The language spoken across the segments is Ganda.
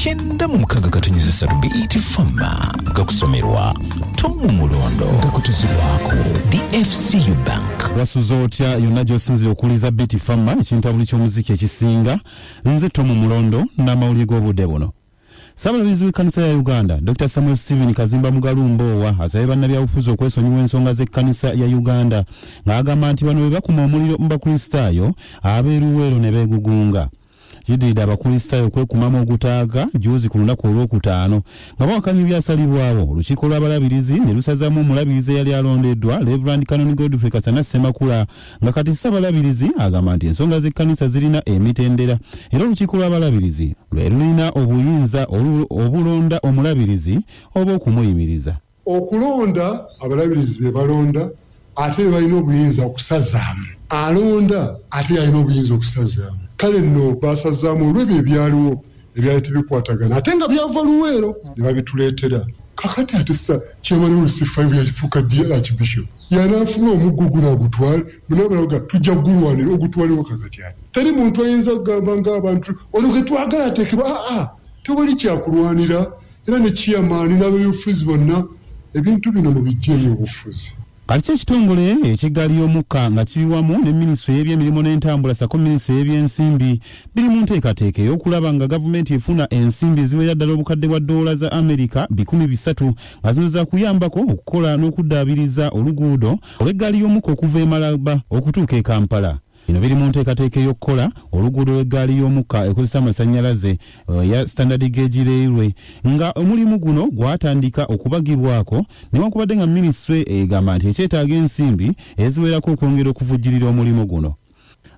kyenda mu mukaga katonyeza satu bet fama nga kusomerwa tomu mulondo nga kutuzibwako dfcu bank wasuza otya yonna gy'osinzira okuwuliza biti fama ekintabuli ky'omuziki ekisinga nze tomu mulondo n'amawulire g'obudde buno ssaabalabizi w'ekkanisa ya uganda dr samuel stephen kazimba mugalu mboowa asabye bannabyabufuzi okwesonyiwa ensonga z'ekkanisa ya uganda ng'agamba nti bano be bakuma omuliro mu bakristaayo ab'eruweero ne beegugunga Kiddiridde abakulisitaayo okwekumamu ogutaaga jjuuzi ku lunaku olw'okutaano nga bawakanya ebyasalibwawo olukiiko lw'abalabirizi ne lusazaamu omulabirizi eyali alondeddwa Reverand Canon Godfrey Kasana Ssemakula nga kati ssabalabirizi agamba nti ensonga z'ekkanisa zirina emitendera era olukiiko lw'abalabirizi lwe lulina obuyinza obulonda omulabirizi oba okumuyimiriza. Okulonda, Abalabirizi be balonda ate be balina obuyinza okusazaamu. Alonda ate y'alina obuyinza okusazaamu. Kale nno baasazaamu olw'ebyo ebyaliwo ebyali tebikwatagana ate nga byava Luweero ne babituleetera. Kaakati ate sa Chairman Olusi Five yafuuka ddi Archbishop? Y'anaafuna omuggo guno agutwale? Mwenna balaga tujja kugulwanira ogutwalewo kaakati ate. Teri muntu ayinza kugamba ng'abantu ono gwe twagala ateekebwe, aa tewali kyakulwanira. era ne chairman n'abeby'obufuzi bonna ebintu bino mubijjeeyo obufuzi. Kati kyo ekitongole eky'eggaali y'omukka nga kiri wamu ne minisitule y'ebyemirimu n'entambula ssaako minisitule y'ebyensimbi biri mu nteekateeka ey'okulaba nga gavumenti efuna ensimbi eziwerera ddala obukadde bwa ddoola za Amerika bikumi bisatu nga zino zaakuyambako okukola n'okuddaabiriza oluguudo olw'eggaali y'omukka okuva e Malaba okutuuka e Kampala. Bino biri mu nteekateeka ey'okukola oluguudo lw'eggaali y'omukka ekozesa amasannyalaze eya Standard Gauge Railway nga omulimu guno gwatandika okubagibwako newankubadde nga minisitule egamba nti ekyetaaga ensimbi eziwerako okwongera okuvujjirira omulimu guno.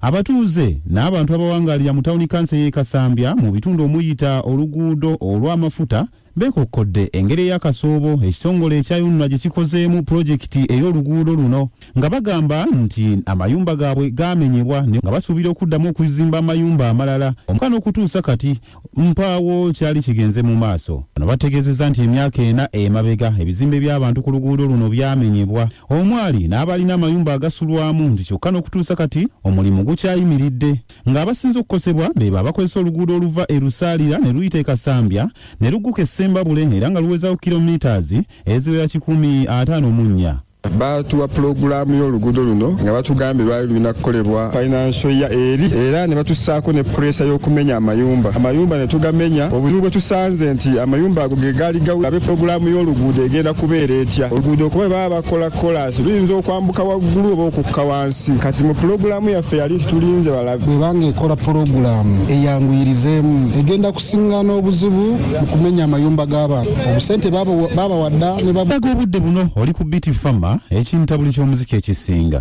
Abatuuze n'abantu abawangaalira mu tawuni kanso ey'e Kasambya mu bitundu omuyita oluguudo olw'amafuta Beekokkodde engeri eya Kasoobo ekitongole ekya UNRA gye kikozeemu pulojekiti ey'oluguudo luno nga bagamba nti amayumba gaabwe gaamenyebwa ne nga basuubira okuddamu okuzimba amayumba amalala omka n'okutuusa kati mpaawo kyali kigenze mu maaso. Bano bategeezezza nti emyaka ena emabega ebizimbe by'abantu ku luguudo luno byamenyebwa omwali n'abaalina amayumba agasulwamu nti kyokka n'okutuusa kati omulimu gukyayimiridde. nga abasinze okukosebwa beebo abakozesa oluguudo oluva e Lusaalira ne luyita e Kasambya ne lugguka e Ssembabule era nga luwezaako kilometres eziwera kikumi ataano mu nnya. Baatuwa pulogulaamu y'oluguudo luno nga batugambye lwali lulina kukolebwa financial year eri era ne batussaako ne puleesa y'okumenya amayumba amayumba ne tugamenya. Obuzibu bwe tusanze nti amayumba ago ge gaali gawe abe pulogulaamu y'oluguudo egenda kubeera etya? Oluguudo kuba bwe baba bakola kolaasi luyinza okwambuka waggulu oba okukka wansi. Kati mu pulogulaamu yaffe yali tulinze balabe. Bwebanga ekola pulogulaamu eyanguyirizeemu egenda kusiŋŋana obuzibu mu kumenya amayumba g'abantu. Obusente baabawadda ne bab. Ndaga obudde buno oli ku Biti Fama ekintabuli ky'omuziki ekisinga.